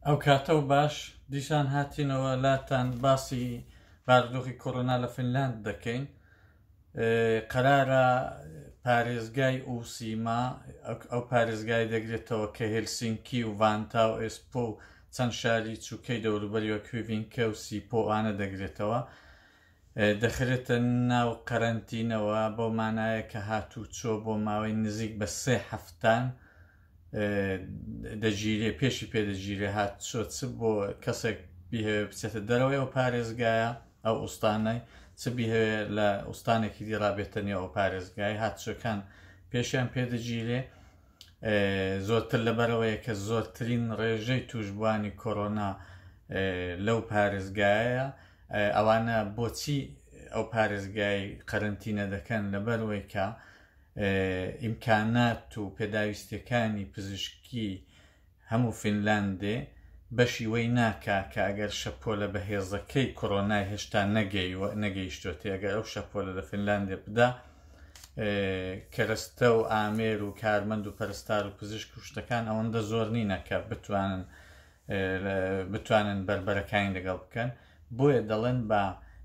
ئەو کاتە و باش دیسان هاتینەوە لاتان باسی بارودۆخی کۆرۆنا لە فینلاند دەکەین قەرارە پارێزگای ئوسیما ئەو پارێزگای دەگرێتەوە کە هلسینکی و ڤانتا و ئێسپۆ و چەند شاری چووکەی دەوروبەریەوە کوێڤینکە و سیپۆ ئانە دەگرێتەوە دەخرێتە ناو قەرەنتینەوە بەو مانایە کە هاتووچۆ بۆ ماوەی نزیک بە سێ هەفتان دەگیرێ پێشی پێدەگیرێ هاتچۆ چ بۆ کەسێک بیهەوێ بچێتە دەرەوەیەوە پارێزگایە ئەو ئوستانەی چ بیهەوێ لە ئوستانێکی دیڕابێتە نێو ئەو پارێزگای هاتچەکان پێشیان پێدەگیرێ زۆرتر لەبەرەوەیە کە زۆرترین ڕێژەی توشبووانی کۆرۆنا لەو پارێزگایە ئەوانە بۆچی ئەو پارێزگای قەرنتینە دەکەن لەبەرەوەی کە ئیمکانات و پێداویستەکانی پزیشکی هەموو فینلاندێ بەشی وەی ناکا کە ئەگەر شەپۆلە بەهێزەکەی کۆرۆنای هێشتا نەگەیوە نەگەیشتۆتێ ئەگەر ئەو شەپۆلە لە فینلاندێ بدا کەرەستە و ئامێر و کارمەند و پەرستار و پزیشک و شتەکان ئەوەندە زۆر نینە کە بتوانن بتوانن بەربەرەکانی لەگەڵ بکەن بۆیە دەڵێن با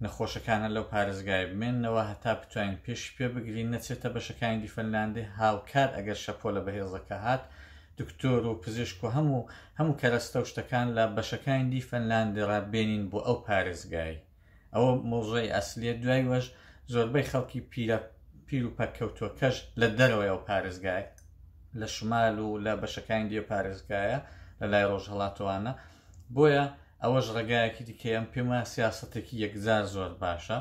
نەخۆشەکانە لەو پارێزگایە بمێننەوە هەتا بتوانین پێشی پێ بگرین نەچێتە بەشەکانی دی فەنلاندی هاوکات ئەگەر شەپۆلە بەهێزەکە هات دکتۆر و پزیشک و هەموو هەموو کەرەستە و شتەکان لە بەشەکانی دی فەنلاندی ڕا بێنین بۆ ئەو پارێزگای ئەوە مۆزەی ئەسلیە دوای وەش زۆربەی خەڵکی پیرە پیر و پەککەوتوەکەش لە دەرەوەی ئەو پارێزگای لە شمال و لە بەشەکانی دی پارێزگایە لە لای ڕۆژهەڵاتوانە بۆیە ئەوەش ڕێگایەکی دیکەیەم پێم وایە سیاسەتێکی یەکجار زۆر باشە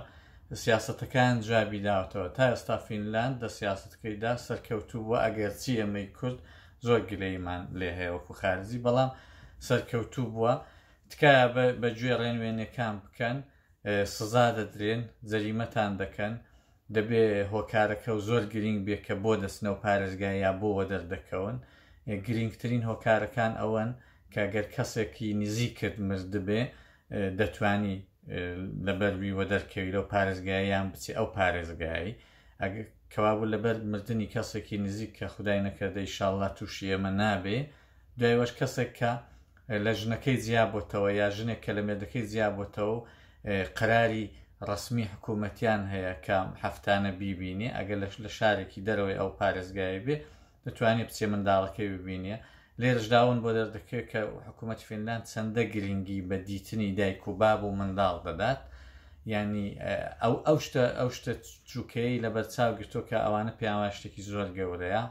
سیاسەتەکان جوابی داوەتەوە تا ئێستا فینلاند لە سیاستەکەیدا سەرکەوتوو بووە ئەگەرچی ئێمەی کورد زۆر گلەیمان لێ هەیە وەکو خارجی بەڵام سەرکەوتوو بووە تکایە بە گوێ ڕێنوێنەکان بکەن سزا دەدرێن جەریمەتان دەکەن دەبێ هۆکارەکەو زۆر گرینگ بێ کە بۆ دەچنەوە پارێزگا یا بۆ وەدەر دەکەون گرینگترین هۆکارەکان ئەوەن کە گەر کەسێکی نزیکت مردبێ دەتوانی لەبەروی وەدەر کەوی لەو پارێزگایان بچێ ئەو پارێزگایی ئەگە کەوابوو لەبەر مردنی کەسێکی نزیک کە خدای نەکردەی شاءاللە تووشی ئێمە نابێ دوایوەش کەسێک کە لە ژنەکەی جیا بۆتەوە یا ژنێک کە لە مێردەکەی جیا بۆتەوە و قەراری ڕەسمی حکوومەتیان هەیە کە هەفتانە بیبینێ ئەگەر لەش لە شارێکی دەرەوەی ئەو پارێزگای بێ دەتوانێت بچێ منداڵەکەی ببینێ لێرشداون بۆ دەردەکەوێت کە حکوومەت فینلاند چەندە گرنگی بە دیتنی دایک و باب و منداڵ دەدات ینی ئەو ئەو شتە ئەو شتە چووکەی لە بەرچاو گرتۆ کە ئەوانە پێیانوای شتێکی زۆر گەورەیە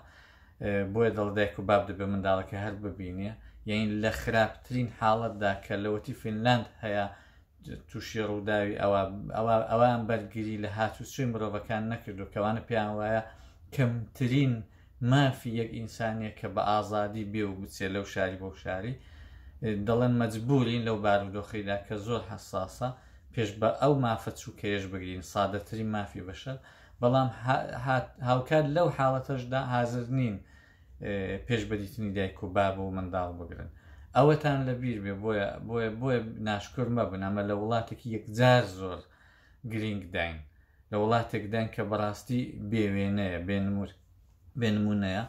بۆیە دەڵێ دایک و باب دەبێ منداڵەکەی هەر ببینێ یعنی لە خراپترین حاڵەتدا کە لەوەتی فینلاند هەیە تووشی ڕووداوی ئەوە ئەوان بەرگری لە هاتوچۆی مرۆڤەکان نەکردو کەوانە پێیان وایە کەمترین مافی یەک ئینسانیە کە بە ئازادی بێ و بچێ لەو شاری بۆ شاری دەڵێن مەجبورین لەو بارودۆخیدا کە زۆر حساسە پێش بە ئەو مافە چووکەیەش بگرین سادەترین مافی بەشە بەڵام هاوکات لەو حاڵەتەشدا حازر نین پێش بە دیتنی دایک و باب و منداڵ بگرن ئەوەتان لە بیر بێ بۆیە بۆیە بۆیە ناشکر مەبن ئەمە لە وڵاتێکی یەکجار زۆر گرنگ داین لە وڵاتێک داین کە بەڕاستی بێوێنەیە بێنمور بێ نمونەیە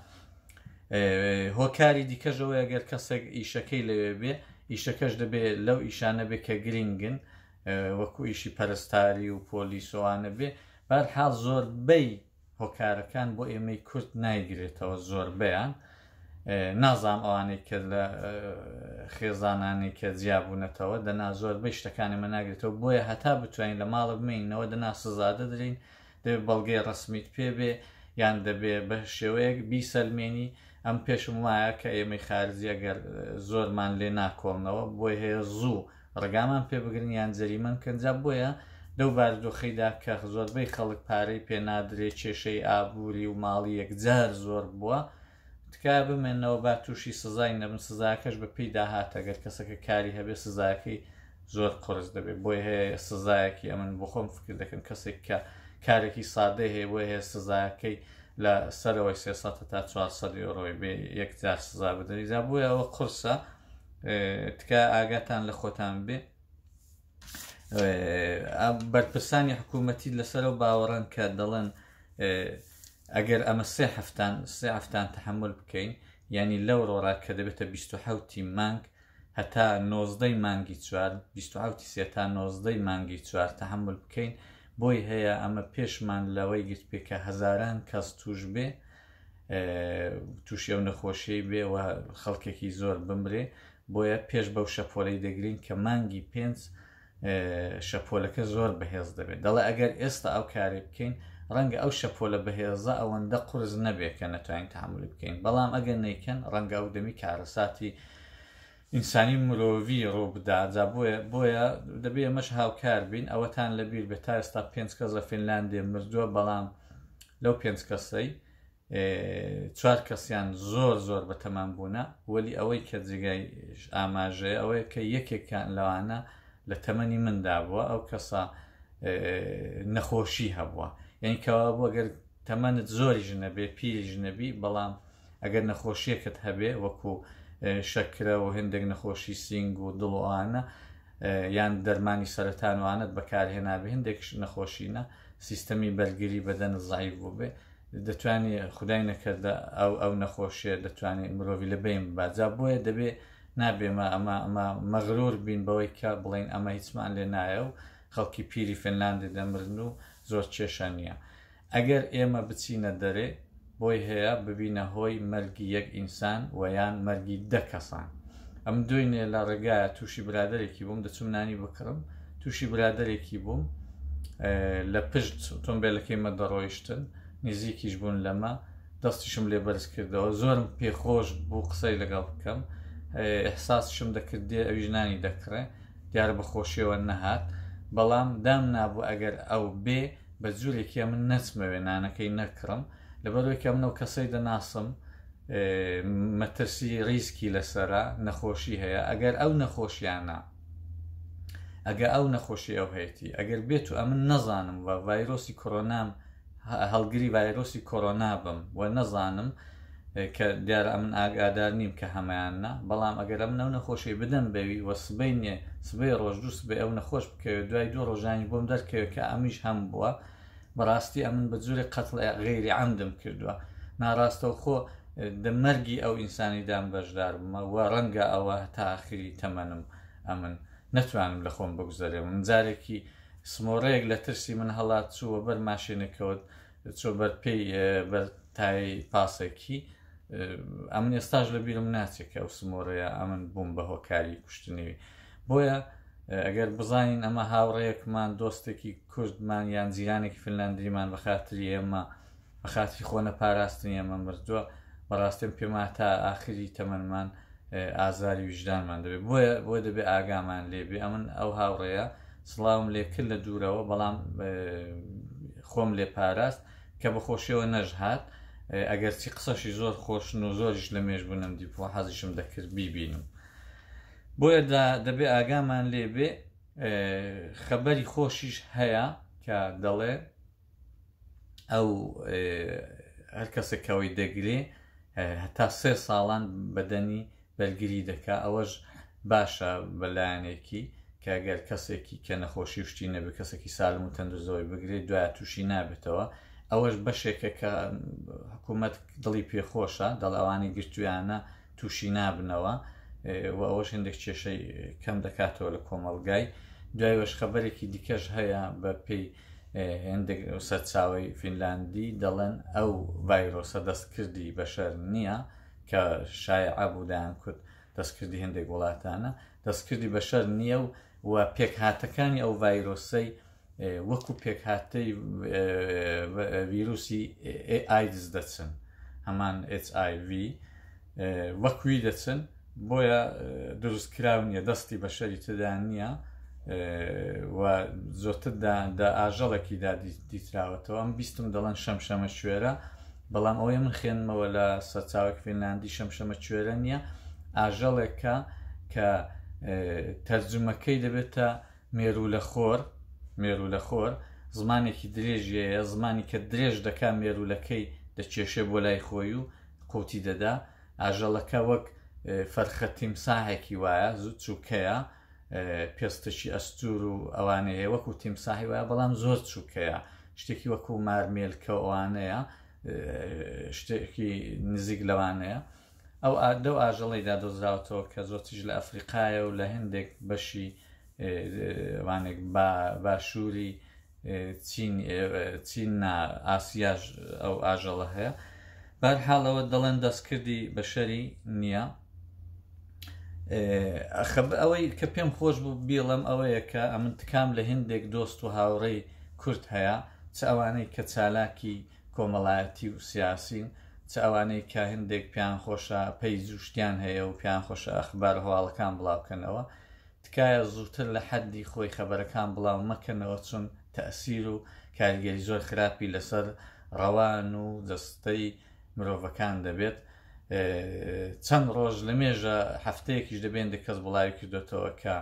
هۆکاری دیکەش ئەوەیە گەر کەسێک ئیشەکەی لەوێ بێ ئیشەکەش دەبێت لەو ئیشانە بێ کە گرنگن وەکو ئیشی پەرستاری و پۆلیسۆوانە بێ بەرحاڵ زۆربەی هۆکارەکان بۆ ئێمەی کورت نایگرێتەوە زۆربیان نازام ئەوانەی کە لە خێزانانی کە جیابوونەتەوە دەنا زۆربەی شتەکانی مە ناگرێتەوە بۆیە هەتا بتوانین لە ماڵە بمینەوە دەنا سزادە درین دەبێ بەڵگەی ڕەسمیت پێ بێ یان دەبێ بە شێوەیەک بیسەلمێنی ئەم پێشم وایە کە ئێمەی خارجی ئەگەر زۆرمان لێ ناکۆڵنەوە بۆی هەیە زوو ڕگامان پێ بگرن یان جەریمەن کەنجا بۆیە لەو باردۆخەیدا کە زۆربەی خەڵک پارەی پێنادرێ کێشەی ئابووری و ماڵی یەکجار زۆر بووە تکایە بمێنەوە با توشی سزای نەبن سزاکەش بە پێی داهاتە گەر کەسەکە کاری هەبێ سزاکەی زۆر قرس دەبێت بۆی هەیە سزایەکی ئەمن بخۆم فکر دەکەم کەسێک کە کارێکی سادەی هەیە بۆی هەیە سزاکەی لە سەرەوەی سێ سە تا چوارسە یۆرۆی بێ یەکجار سزا بدەنی جا بۆیە ئەوە قرسە تکە ئاگاتان لە خۆتان بێ بەرپرسانی حکوومەتی لەسەرەوە باوەڕن کە دەڵێن ئەگەر ئەمە سێ هەفتان سێ هەفتان تحمل بکەین ینی لەو ڕۆرا کە دەبێتە 1970 مانگ هەتا نۆزدەی مانگی چوار 1970 سێ تا نۆزدەی مانگی چوار تحمل بکەین بۆی هەیە ئەمە پێشمان لەوەی گرت پێکە هەزاران کەس توش بێ تووشی ئەو نەخۆشیی بێ و خەڵکێکی زۆر بمرێ بۆیە پێش بەو شەپۆلەی دەگرین کە مانگی پێنج شەپۆلەکە زۆر بەهێز دەبێت دەڵێ ئەگەر ئێستا ئەو کاری بکەین ڕەنگە ئەو شەپۆلە بەهێزە ئەوەندە قرس نەبێت کە نەتوانین تحملی بکەین بەڵام ئەگەر نیکەن ڕەنگە ئەو دەمی کارەساتی ئینسانی مرۆڤی ڕووبدا جا بۆیە بۆیە دەبێ ئێمەش هاوکار بین ئەوەتان لەبیر بێ تا ئێستا پێنج کەس لە فینلاندێ مردووە بەڵام لەو پێنج کەسەی چوار کەسیان زۆر زۆر بەتەمان بوونە وەلی ئەوەی کە جێگای ئاماژەیە ئەوەیە کە یەکێکان لەوانە لە تەمەنی مندا بووە ئەو کەسە نەخۆشی هەبووە یعنی کەوا بووە گەر تەمەنت زۆری ژنەبێ پیری ژنەبی بەڵام ئەگەر نەخۆشیەکت هەبێ وەکو شەکرە و هندێک نەخۆشی سینگ و دڵوانە یان دەرمانی سەرەتانوانت بەکارهێنابێ هندێک نەخۆشینە سیستەمی بەرگری بەدەن زعیف بوو بێ دەتوانانی خدای نەکردە ئەو ئەو نەخۆشیە دەتوانانی مرۆڤ لە بین باجا بۆیە دەبێ نابێمە ئەمە ئەمە مەغرور بین بەوەی کە بڵین ئەمە هیچمان لێ نایە و خەڵکی پیری فنلاندی دەمرن و زۆر کێشە نییە ئەگەر ئێمە بچینە دەرێ بۆی هەیە ببینە هۆی مەرگی یەک ئینسان وە یان مەرگی دە کەسان ئەم دوێنێ لە ڕێگایە تووشی برادێکی بووم دەچوم نانی بکڕم تووشی برادێکی بووم لە پشت ئۆتۆمبیلەکەی مە دەڕۆیشتن نزیکیش بوون لەمە دەستیشم لێ بەرز کردەوە زۆرم پێخۆش بوو قسەی لەگەڵ بکەم ئەحساسشم دەکرد دێ ئەویش نانی دەکڕێ دیارە بە خۆشیەوە نەهات بەڵام دام نابوو ئەگەر ئەو بێ بە جورێک یە من نەچمەوێ نانەکەی نەکڕم لەبەرەوەی کە منەو کەسەی دەناسم مەترسی ریسکی لەسرە نەخۆشی هەیە ئەگەر ئەو نەخۆشیانە ئەگە ئەو نەخۆشی ئەو هەیەی ئەگەر بێت و ئەمن نەزانم و ڤایرۆسی کۆرۆنام هەڵگری ڤایرۆسی کۆرۆنا بم و نەزانم کە دیارە ئەمن ئاگادار نیم کە هەمەیان نا بەڵام ئەگەر ئەمن ئەو نەخۆشی بدەم بەوی وە سبەی نێ سبەی ڕۆژ دوو سبەی ئەو نەخۆش بکەوێت دوای دوو ڕۆژانی بۆم دەرکەوێت کە ئەمیش هەم بووە بەڕاستی ئەمن بە جوری قەتڵ غێری ئەمدم کردووە ناڕاستەوخۆ دەمەرگی ئەو ئینسانی دام بەشدار بمە وە ڕەنگە ئەوە تاخری تەمەنم ئەمن نەتوانم لە خۆم بگوزەرێ من جارێکی سمۆڕەیەک لە ترسی من هەڵات چووە بەر ماشێنەکەوت چۆ بەر پێی بەر تای پاسەکی ئەمن ئێستاش لە بیرم ناچێت کە ئەو سمۆرەیە ئەمن بووم بە هۆکاری کوشتنیوی بۆیە ئەگەر بزانین ئەمە هاوڕەیەکمان دۆستێکی کوردمان یان جیرانێکی فنلاندریمان بە خاتری ئێمە بە خاتری خۆنە پاراستنی ئێمە مردووە بەڕاستم پێما تا ئاخری تەمەمان ئازاری ویژدانمان دەبێت بۆیە بۆی دەبێت ئاگامان لێبێ ئەمن ئەو هاوڕێە سڵاوم لێ کرد لە دوورەوە بەڵام خۆم لێ پاراست کە بەخۆشیەوە نەژهات ئەگەر چی قسەشی زۆر خۆشن و زۆریش لە مێش بوونم دیپۆ حەزیشم دەکرد بیبینم بۆیە دەبێ ئاگامان لێبێ خەبەری خۆشیش هەیە کە دەڵێ ئەو هەر کەسێک کەەوەی دەگرێ هەتا سێ ساڵان بەدەنی بەرگری دەکا ئەوەش باشە بەلایەنێکی کەگەر کەسێکی کە نەخۆشی شتی نەبێ کەسێکی سالم و تەندزەوەی بگرێت دوای تووشی نابێتەوە ئەوەش بەشێکە کە حکوومەت دڵی پێخۆشە دەڵاوانی گرتویانە تووشی نابنەوە و ئەوەش هەندێک کێشەی کەم دەکاتەوە لە کۆمەڵگای دوای وەشخەبەرێکی دیکەش هەیە بە پێی هەندێک سەرچاوی فینلاندی دەڵێن ئەو ڤایرۆسە دەستکردی بەشەر نییە کە شایعە بوودایان کورد دەستکردی هەندێک وڵاتانە دەستکردی بەشەر نییە و و پێکهاتەکانی ئەو ڤایرۆسەی وەکو پێکهاتەی ڤیروسی ئایدز دەچن هەمان HIV وەکوی دەچن بۆیە دروست کراو نیە دەستی بە شەری تدا نییە و زۆتردا دا ئاژەڵێکیدا دیتراوەتەوە ئەم بیستم دەڵەن شەمشەمە شوێرە بەڵام ئەوەی من خوێنمەوە لە سەرچاوێک فینلاندی شەمشەمە کوێرە نییە ئاژەڵێکە کە تەرجمەکەی دەبێتە مێروولەخۆر، مێروولەخۆر، زمانێکی درێژی هەیە، زمانی کە درێژ دەکا مێروولەکەی دەکێشێ بۆ لای خۆی و قووتی دەدا، ئاژەڵەکە وەک فەرخە تیمساحێکی وایە، زوو چووکەیە، پێستێکی ئەستوور و ئەوانەی هەیە وەکو تیمساحی وایە بەڵام زۆر چووکەیە، شتێکی وەکو مارمێلکە و ئەوانەیە، شتێکی نزیک لەوانەیە. ئەو ئا لەو ئاژەڵەیدا دۆزراوەتەوە کە زۆرتریش لە ئەفریقایە و لە هەندێک بەشی وانێک با باشووری چین چین نا ئاسیاش ئەو ئاژەڵە هەیە بەر حاڵەوە دەڵێن دەستکردی بەشەری نییە خەب ئەوەی کە پێم خۆش بوو بیڵم ئەوەیە کە ئەمن تکام لە هندێک دۆست و هاوڕێی کورد هەیە چ ئەوانەی کە چالاکی کۆمەڵایەتی و سیاسین، چ ئەوانەی کە هەندێک پێیان خۆشە پەیج و شتیان هەیە و پێیان خۆشە ئەخبار و هەواڵەکان بڵاوکەنەوە، تکایە زووتر لە حەددی خۆی خەبەرەکان بڵاو مەکەنەوە چون تەئسیر و کاریگەری زۆر خراپی لەسەر ڕەوان و جەستەی مرۆڤەکان دەبێت، چەند ڕۆژ لەمێژە هەفتەیەکیش دەبێندە کەس بڵاوی کردۆتەوە کە.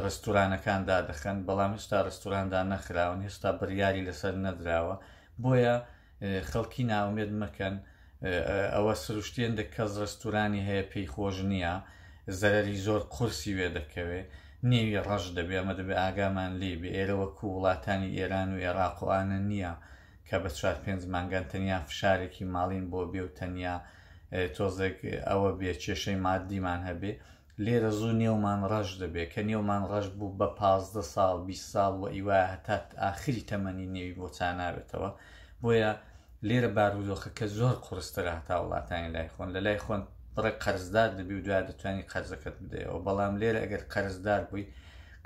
ڕستورانەکان دادەخەن بەڵام هێشتا ڕستوراندا نەخراون هێشتا بڕیاری لەسەر نەدراوە بۆیە خەڵکی ناومێت مەکەن ئەوە سروشتێندە کەس ڕستورانی هەیە پێی خۆش نییە زەرری زۆر قورسی وێ دەکەوێ نێوی ڕەش دەبێ ئەمە دەبێ ئاگامان لێ بێ ئێرەوە کو وڵاتانی ئێران و عێراقوانە نییە کە بە چوار پێنج مانگان تەنیا فشارێکی ماڵین بۆ بێ و تەنیا تۆزێک ئەوە بێ کێشەی مادیمان هەبێ لێرە زوو نێومان ڕەش دەبێ، کە نێومان ڕەش بوو بە پازدە ساڵ، بیست ساڵ وە ئیوایە هەتا ئاخری تەمەنی نێوی بۆ چانابێتەوە، بۆیە لێرە بارودۆخەکە زۆر قورسترە هەتا وڵاتانی لای خۆن، لە لای خۆن بڕێک قەرزدار دەبی و دوایە دەتوانی قەرزەکەت بدەیەوە، بەڵام لێرە ئەگەر قەرزدار بووی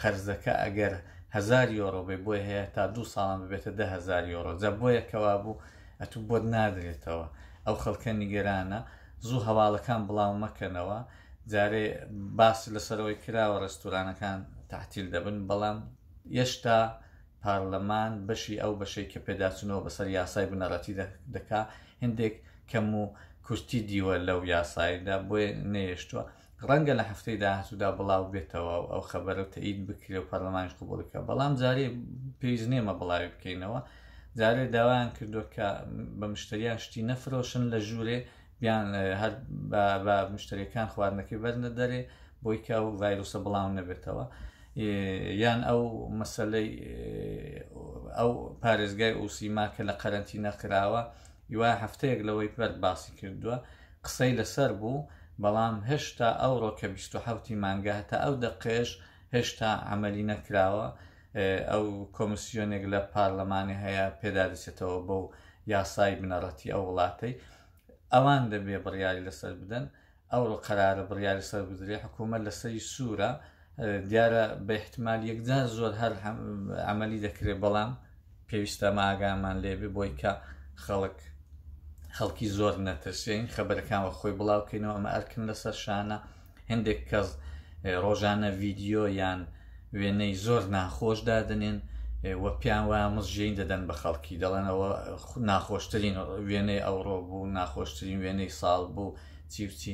قەرزەکە ئەگەر هەزار یۆرۆ بێ بۆیە هەیە هەتا دوو ساڵان ببێتە دە هەزار یۆرۆ، جا بۆیە کە وابوو ئەتوو بۆت نادرێتەوە، ئەو خەڵکە نیگەرانە، زوو هەواڵەکان بڵاو مەکەنەوە. جارێ باس لەسەرەوەی کراوە ڕێستورانەکان تەعتیل دەبن، بەڵام ئێشتا پارلەمان بەشی ئەو بەشەی کە پێداچوونەوە بەسەر یاسای بنەڕەتی دەکا هێندێک کەم و کورتی دیوە لەو یاسایەدا بۆیە نەهێشتووە، ڕەنگە لە هەفتەی داهاتوودا بڵاو بێتەوە و ئەو خەبەرە تەئید بکرێ و پارلەمانیش قبوڵی بکا، بەڵام جارێ پێویست نییە مە بڵاوی بکەینەوە، جارێ داوایان کردووە کە بە مشتەریان شتی نەفرۆشن لە ژوورێ یان هەر بە مشتریەکان خواردنەکەی بەرنە دەرێ بۆی کە و ڤایرۆسە بڵاو نەبێتەوە یان ئەو مەسلەی ئەو پارێزگای ئوسیما کە لە قەرەنتی نەکراوە یوا هەفتەیەک لەوەی پرد باسی کردووە قسەی لەسەر بوو بەڵام هێشتا ئەوڕۆ کە 1970 مانگە هەتا ئەو دەقێش هێشتا ئەمەلی نەکراوە ئەو کۆمسیۆنێک لە پارلەمانی هەیە پێدادەچێتەوە بەو یاسای بنەڕەتی ئەو وڵاتەی ئەوان دەبێ بڕیاری لەسەر بدەن ئەو قەرارە بڕیاری سەر بدرێ حکوومەت لەسەری سوورە دیارە بە احتمال یەکجار زۆر هەر ئەمەلی دەکرێت بەڵام پێویستە ماگامان لێبێ بۆی کە خەڵک خەڵکی زۆر نەترسێن خەبەرەکان وە خۆی بڵاوکەینەوە ئەمە ئەرکن لەسەر شانە هەندێک کەس ڕۆژانە ڤیددیو یان وێنەی زۆر ناخۆش دادنێن و پیان وایە مزژین دەدەن بە خەڵکی دەڵێنەوە ناخۆشترین وێنەی ئەوڕۆ بوو ناخۆشترین وێنەی ساڵ بوو چیچی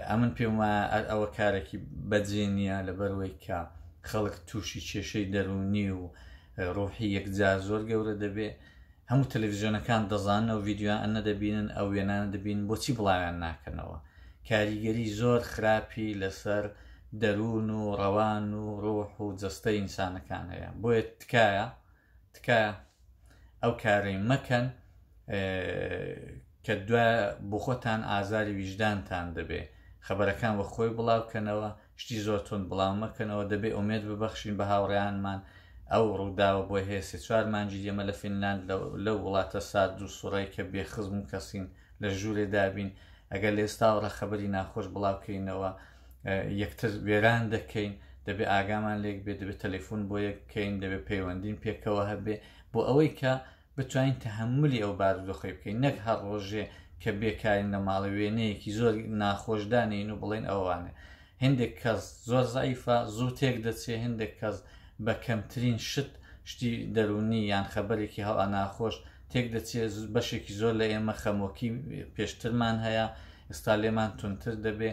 ئەمن پێم وایە ئەوە کارێکی بەجێ نییە لەبەروەی کە خەڵک تووشی کێشەی دەرونی و ڕۆحی یەکجار زۆر گەورە دەبێ هەموو تەلەفزیۆنەکان دەزانن ئەو ڤیدیۆ ئەنە دەبینن ئەو وێنانە دەبین بۆچی بڵاویان ناکەنەوە کاریگەری زۆر خراپی لەسەر دەروون و ڕەوان و ڕۆح و جەستە ئینسانەکان هەیە بۆیە تکایە تکایە ئەو کارەی مەکەن کە دو بۆ خۆتان ئازاری ویژدانتان دەبێ خەبەرەکان وە خۆی بڵاوکەنەوە شتی زۆر توند بڵاو مەکەنەوە، دەبێ ئومێد ببەخشین بە هاوڕێیانمان، ئەو ڕووداوە بۆ هەیە سێ چوار مانگی ئێمە لە فینلاند لەو وڵاتە سارد و سوڕەی کە بێ خزم و کەسین لە ژوورێ دابین، ئەگەر لە ئێستاوەڕ خەبەری ناخۆش بڵاو کەینەوە یەکتر وێران دەکەین، دەبێ ئاگامان لێک بێ، دەبێ تەلەفون بۆ یەک بکەین، دەبێ پەیوەندیم پێکەوە هەبێ، بۆ ئەوەی کە بتوانین تەهەمولی ئەو بارودۆخەی بکەین نەک هەر ڕۆژێ کە بێکارین لە ماڵێ وێنەیەکی زۆر ناخۆش دانێین و بڵێن ئەوانە هندێک کەس زۆر زعیفە زوو تێک دەچێ هندێک کەس بە کەمترین شت شتی دەروونی یان خەبەرێکی هەڵا ناخۆش تێک دەچێ بەشێکی زۆر لە ئێمە خەمۆکی پێشترمان هەیە ئێستا لێمان تونتر دەبێ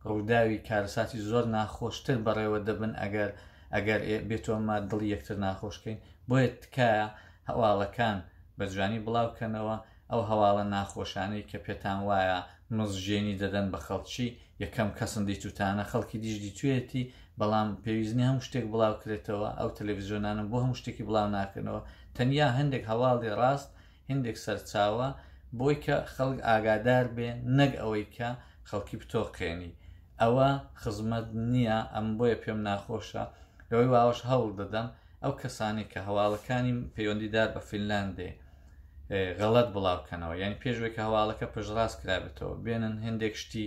ڕووداوی کارەساتی زۆر ناخۆشتر بەڕێوە دەبن ئەگەر ئەگەر بێتۆمە دڵی یەکتر ناخۆشکەین بۆیە تکایە هەواڵەکان بە جوانی بڵاو کەنەوە، ئەو هەواڵە ناخۆشانەی کە پێتان وایە مزژێنی دەدەن بە خەڵکی، یەکەم کەسن دیتوتانە، خەڵکی دیش دیتویەتی، بەڵام پێویست نیە هەموو شتێک بڵاو کرێتەوە، ئەو تەلەفزیۆنانە بۆ هەموو شتێکی بڵاو ناکەنەوە، تەنیا هەندێک هەواڵی ڕاست، هندێک سەرچاوە، بۆی کە خەڵک ئاگادار بێ، نەک ئەوەی کە خەڵکی بتۆقێنی، ئەوە خزمەت نیە، ئەم بۆیە پێم ناخۆشە، لەوەی واوەش هەوڵ دەدەم، ئەو کەسانەی کە هەواڵەکانی پەیوەندیدار بە فینلاندێ غەڵەت بڵاوکەنەوە یعنی پێشوێک کە هەواڵەکە پشڕاست کرابێتەوە بێنن هەندێک شتی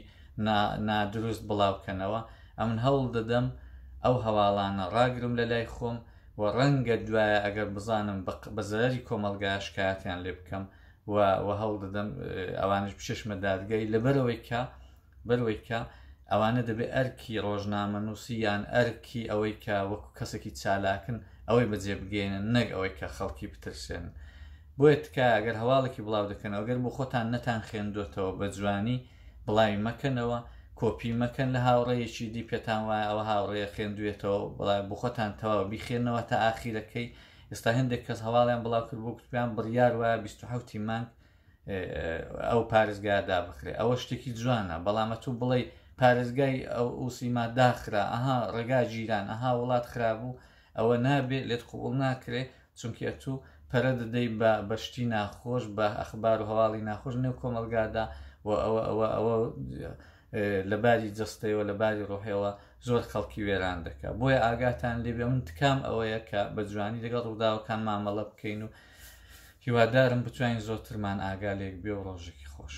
نادروست بڵاوکەنەوە ئەمن هەوڵ دەدەم ئەو هەواڵانە ڕاگرم لە لای خۆم و ڕەنگە دوایە ئەگەر بزانم بە زەرری کۆمەلگا شکایەتیان لێ بکەم و هەوڵ دەدەم ئەوانش بچێشمە دادگای لەبەرەوەی کە بەرەوەی کە ئەوانە دەبێ ئەرکی ڕۆژنامەنووسی یان ئەرکی ئەوەی کە وەکو کەسێکی چالاکن ئەوەی بەجێ بگەێنن نەک ئەوەی کە خەڵکی بترسێن بۆیە تکای ئەگەر هەواڵێکی بڵاو دەکەنەوە گەر بۆ خۆتان نەتان خوێندوێتەوە بە جوانی بڵاوی مەکەنەوە کۆپی مەکەن لە هاوڕێیەکی دی پێتان وایە ئەوە هاوڕێە خوێندوێتەوە بڵای بخۆتان تەواو بیخێنەوە تا ئاخیرەکەی ئێستا هەندێک کەس هەواڵیان بڵاو کرد بۆ کوتپیان بڕیار وایە 1970 مانگ ئەو پارێزگایە دابخرێ ئەوە شتێکی جوانە بەڵام ئەتوو بڵێ پارێزگای ئەو ئوسیما داخرا ئەها ڕێگا جیران ئەها وڵات خرابوو ئەوە نابێت لێت قوبڵ ناکرێ چونکی ئەتوو پەرە دەدەی بە بەشتی ناخۆش بە ئەخبار و هەواڵی ناخۆش نێو کۆمەلگادا و ئەوە ئەوە ئەوە لە باری جستەوە لە باری ڕۆحەوە زۆر خەڵکی وێران دەکە بۆیە ئاگاتان لێبێ من تکام ئەوەیە کە بە جوانی لەگەڵ ڕووداوەکان مامەڵە بکەین و هیوادارم بتوانین زۆرترمان ئاگا لێک بێ و ڕۆژێکی خۆش.